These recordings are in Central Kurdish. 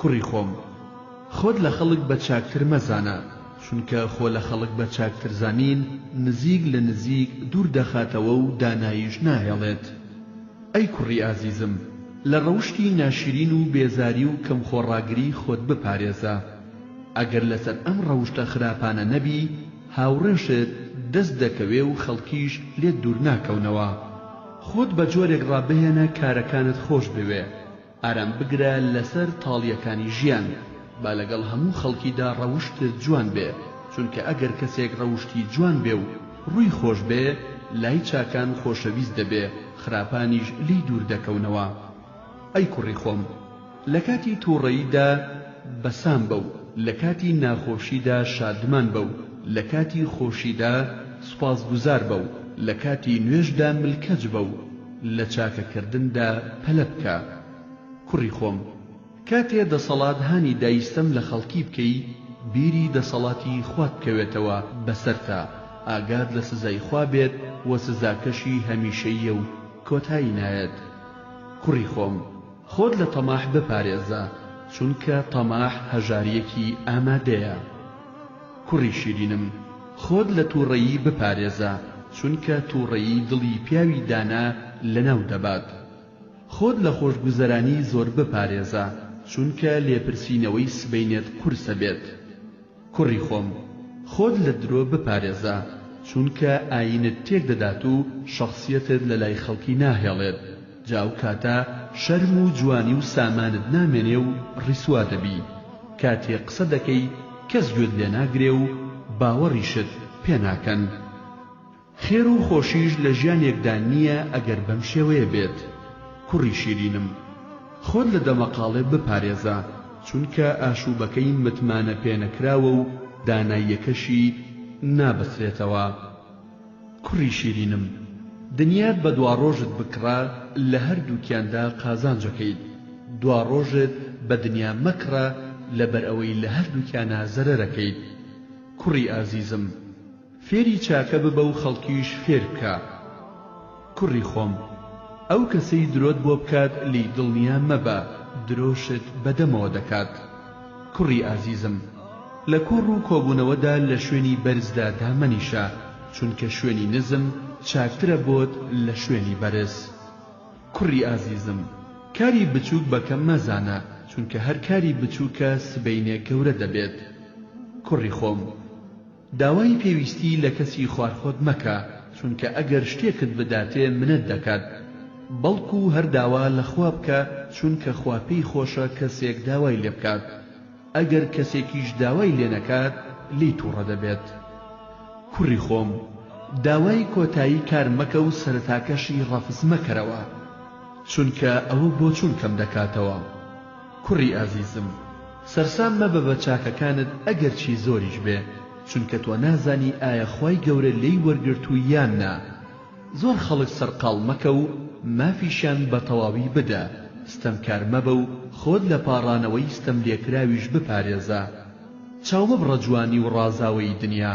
کوڕی خۆم خۆت لە خەڵک بە چاکتر مەزانە چونکە خۆ لە خەڵک بە چاکتر زانین نزیک لە نزیک دوور دەخاتەوە و داناییش ناهێڵێت ئەی کوڕی ئازیزم لە ڕەوشتی ناشرین و بێزاری و کەم خۆڕاگری خۆت بپارێزە ئەگەر لەسەر ئەم ڕەوشتە خراپانە نەبی هاوڕێشت دەست دەکەوێ و خەڵکیش لێت دوور ناکەونەوە خۆت بە جۆرێک ڕابهێنە کارەکانت خۆش بوێ. ئارام بگرە لەسەر تاڵیەکانی ژیان با لەگەڵ هەموو خەڵکیدا ڕەوشتت جوان بێ چونکە ئەگەر کەسێک ڕەوشتی جوان بێ و ڕووی خۆش بێ لای چاکان خۆشەویست دەبێ خراپانیش لێی دوور دەکەونەوە ئەی کوڕی خۆم لەکاتی توڕەییدا بەسام بە و لەکاتی ناخۆشیدا شادمان بە و لەکاتی خۆشیدا سوپاسگوزار بە و لەکاتی نوێژدا ملکەچ بە و لە چاکە کردندا پەلە بکە کوڕی خۆم کاتێ دەسەڵات هانی دای ستەم لە خەڵکی بکەی بیری دەسەڵاتی خوات بکەوێتەوە بەسەرتا ئاگات لە سزای خوا بێت و سزاکەشی هەمیشەییە و کۆتایی نایەت کوڕی خۆم خۆت لە تەماح بپارێزە چونکە تەماح هەژاریەکی ئامادەیە. کوڕی شیرینم خۆت لە توڕەیی بپارێزە چونکە توڕەیی دڵی پیاوی دانا لەناو دەبات خۆت لە خۆشگوزەرانی زۆر بپارێزە چونکە لێپرسینەوەی سبەینێت قورسە بێت کوڕی خۆم خۆت لە درۆ بپارێزە چونکە ئاینت تێک دەدات و شەخسیەتت لەلای خەڵکی ناهێڵێت جا ئەو کاتە شەرم و جوانی و سامانت نامێنێ و ڕیسوا دەبی کاتێ قسە دەکەی کەس گوێت لێ ناگرێ و باوەڕیشت پێ ناکەن خێر و خۆشیش لە ژیانێکدا نییە ئەگەر بەم شێوەیە بێت کوڕی شیرینم خۆت لە دەمەقاڵێ بپارێزە چونکە ئاشووبەکەی متمانە پێنەکراوە و داناییەکەشی نابەسرێتەوە. کوڕی شیرینم دنیات بە دواڕۆژت بکڕە لە هەردووکیاندا قازانجەکەیت، دواڕۆژت بە دنیا مەکڕە لەبەرئەوەی لە هەردووکیانا زەرەرەکەیت. کوڕی ئازیزم فێری چاکە ببە و خەڵکیش فێربکە. کوڕی خۆم ئەو کەسەی درۆت بۆ بکات لێی دڵنیا مەبە درۆشت بە دەمەوە دەکات کوڕی ئازیزم لە کۆڕ و کۆبوونەوەدا لە شوێنی بەرزدا دامەنیشە چونکە شوێنی نزم چاکترە بۆت لە شوێنی بەرز کوڕی ئازیزم کاری بچووک بە کەم مەزانە چونکە هەر کاری بچووکە سبەینێ گەورە دەبێت کوڕی خۆم داوای پێویستی لە کەسی خوارخۆت مەکە چونکە ئەگەر شتێکت بداتێ منەت دەکات بەڵکو هەر داوا لە خوا بکە چونکە خوا پێی خۆشە کەسێک داوای لێ بکات ئەگەر کەسێکیش داوای لێ نەکات لێی توڕە دەبێت کوڕی خۆم داوای کۆتایی کار مەکە و سەرەتاکەشی ڕەفز مەکەرەوە چونکە ئەوە بۆچونکەم دەکاتەوە. کوڕی ئازیزم سەرسام مەبە بە چاکەکانت ئەگەرچی زۆریش بێ چونکە تۆ نازانی ئایا خوای گەورە لێی وەرگرتووی یان نا زۆر خەڵک سەرقاڵ مەکە و مافیشیان بە تەواوی بدە ستەمکار مەبە و خۆت لە پاڕانەوەی ستەملێکراویش بپارێزە چاومەبڕە جوانی و ڕازاوەیی دنیا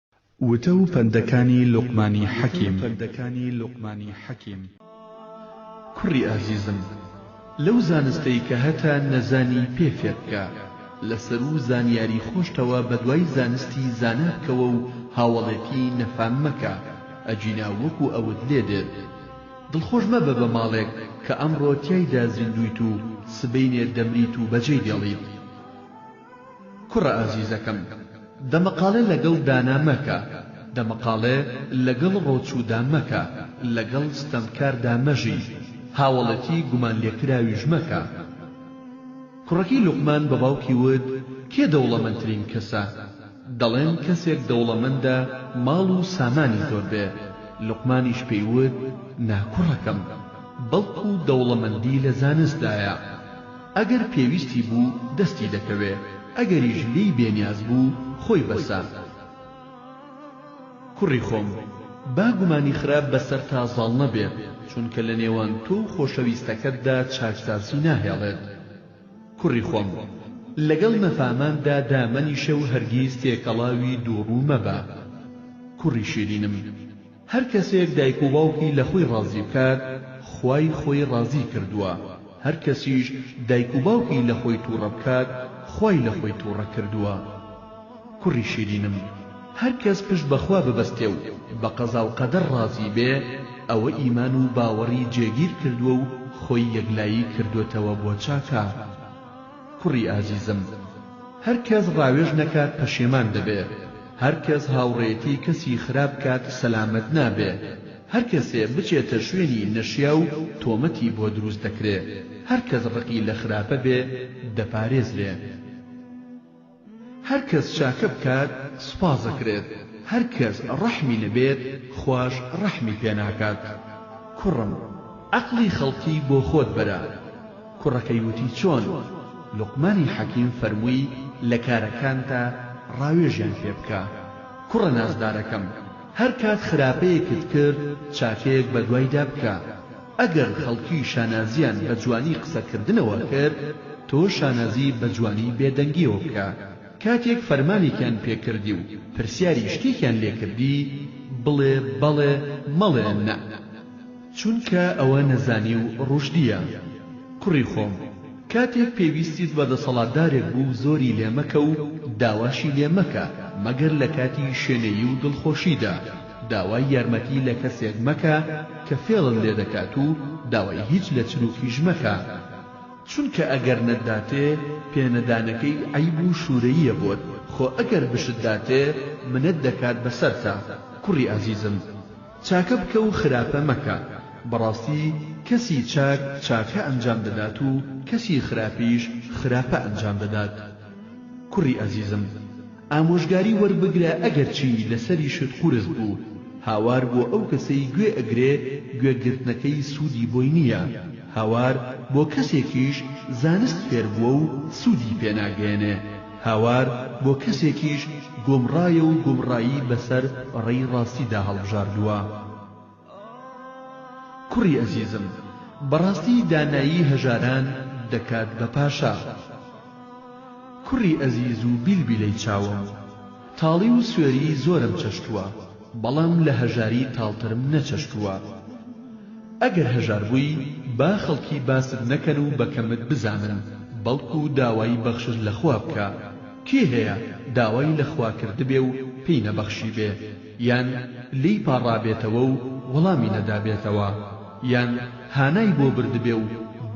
وتە و پەندەکانی لوقمانی حەکیم. کوڕی ئازیزم، لەو زانستەی کە هەتە نەزانی پێ فێر بکە، لە سەروو زانیاری خۆشتەوە بە دوای زانستی زانا بکەوە و هاوەڵێتی نەفام مەکە، ئەگینا وەکوو ئەوت لێ دێت. دڵخۆش مەبە بە ماڵێک کە ئەمڕۆ تیایدا زیندوویت و سبەینێ دەمریت و بەجێی دێڵیت. کوڕە ئازیزەکەم دەمەقاڵێ لەگەڵ دانا مەکە، دەمەقاڵێ لەگەڵ ڕۆچوودا مەکە، لەگەڵ ستەمکاردا مەژی، هاوەڵێتی گومانلێکراویش مەکە. کوڕەکەی لوقمان بە باوکی وت، کێ دەوڵەمەندترین کەسە؟ دەڵێن کەسێک دەوڵەمەندە ماڵ و سامانی زۆر بێ، لوقمانیش پێی وت، نا کوڕەکەم، بەڵکو دەوڵەمەندی لە زانستدایە. ئەگەر پێویستی بوو دەستی دەکەوێ ئەگەریش لێی بێ نیاز بوو خۆی بەسە. کوڕی خۆم با گومانی خراپ بەسەرتا زاڵ نەبێت چونکە لە نێوان تۆ و خۆشەویستەکەتدا چاکسازی ناهێڵێت. کوڕی خۆم لەگەڵ نەفاماندا دامەنیشە و هەرگیز تێکەڵاوی دووڕوو مەبە. کوڕی شیرینم. هەر کەسێک دایک و باوکی لە خۆی ڕازی بکات خوای خۆی ڕازی کردووە، هەر کەسیش دایک و باوکی لە خۆی تووڕە بکات خوای لە خۆی تووڕە کردووە. کوڕی شیرینم هەر کەس پشت بە خوا ببەستێ و بە قەزا و قەدەر ڕازی بێ ئەوە ئیمان و باوەڕی جێگیر کردووە و خۆی یەکلایی کردۆتەوە بۆ چاکە. کوڕی ئازیزم هەر کەس ڕاوێژ نەکات پەشێمان دەبێ هەر کەس هاوڕێیەتی کەسی خراپ بکات سەلامەت نابێ هەر کەسێ بچێتە شوێنی نەشیاو تۆمەتی بۆ دروست دەکرێ هەر کەس ڕقی لە خراپە بێ دەپارێزرێ. هەر کەس چاکە بکات سوپاس دەکرێت هەر کەس ڕەحمی نەبێت خواش ڕەحمی پێ ناکات کوڕم عەقڵی خەڵکی بۆ خۆت بەرە کوڕەکەی وتی چۆن لوقمانی حەکیم فەرمووی لە کارەکانتا ڕاوێژیان پێ بکە کوڕە نازدارەکەم هەر کات خراپەیەکت کرد چاکەیەک بەدوایدا بکە ئەگەر خەڵکی شانازییان بە جوانی قسەکردنەوە کرد، تۆ شانازی بە جوانی بێدەنگییەوە بکە. کاتێک فەرمانێکیان پێ کردی و پرسیاری شتێکیان لێ کردی، بڵێ بەڵێ، مەڵێ نە. چونکە ئەوە نەزانی و ڕوشدییە. کوڕی خۆم، کاتێک پێویستیت بە دەسەڵاتدارێک بوو زۆری لێ مەکە و داواشی لێ مەکە مەگەر لە کاتی شێنەیی و دڵخۆشیدا. داوای یارمەتی لە کەسێک مەکە کە فێڵت لێ دەکات و داوای هیچ لە چروکیش مەکە چونکە ئەگەر نەتداتێ پێ نەدانەکەی عەیب و شورەییە بۆت خۆ ئەگەر بشت داتێ منەت دەکات بەسەرتا کوڕی ئازیزم چاکە بکە و خراپە مەکە بەڕاستی کەسی چاک چاکە ئەنجام دەدات و کەسی خراپیش خراپە ئەنجام دەدات کوڕی ئازیزم. ئامۆژگاری وەربگرە ئەگەرچی لەسەریشت قورس بوو هاوار بۆ ئەو کەسەی گوێ ئەگرێ گوێ گرتنەکەی سوودی بۆی نییە هاوار بۆ کەسێکیش زانست فێر بووە و سوودی پێ ناگەیەنێ هاوار بۆ کەسێکیش گۆمڕایە و گومڕایی بەسەر ڕێی ڕاستیدا هەڵبژاردووە. کوڕی ئەزیزم بەڕاستی دانایی هەژاران دەکات بە پاشا کوڕی ئەزیز و بیلبیلەی چاوم تاڵی و سوێری زۆرم چەشتووە بەڵام لە هەژاری تاڵترم نەچەشتووە ئەگەر هەژار بووی با خەڵکی باست نەکەن و بە کەمت بزانن بەڵکو داوای بەخشش لە خوا بکە کێ هەیە داوای لە خوا کردبێ و پێی نەبەخشیبێ یان لێی پاڕابێتەوە و وەڵامی نەدابێتەوە، یان هانای بۆ بردبێ و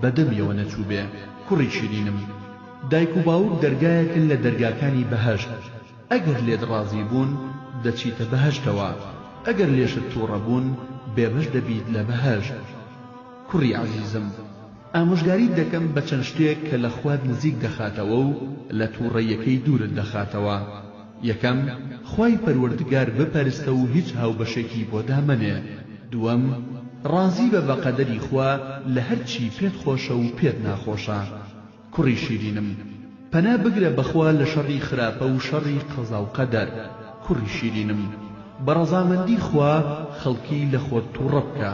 بە دەمیەوە نەچووبێ. کوڕی شیرینم، دایک و باوک دەرگایەکن لە دەرگاکانی بەهەشت، ئەگەر لێت ڕازی بوون، دەچیتە بەهەشتەوە، ئەگەر لێشت تووڕە بوون، بێبەش دەبیت لە بەهەشت. کوڕی ئازیزم! ئامۆژگاریت دەکەم بە چەند شتێک کە لە خوات نزیک دەخاتەوە و لە تووڕەیەکەی دوورت دەخاتەوە، یەکەم، خوای پەروەردگار بپەرستە و هیچ هاوبەشێکی بۆ دامەنێ، دووەم، ڕازی بە بە قەدەری خوا لە هەر چی پێت خۆشە و پێت ناخۆشە. کوڕی شیرینم، پەنا بگرە بە خوا لە شەڕی خراپە و شەڕی قەزا و قەدەر، کوڕی شیرینم، بە ڕەزامەندی خوا خەڵکی لە خۆت تووڕە بکە.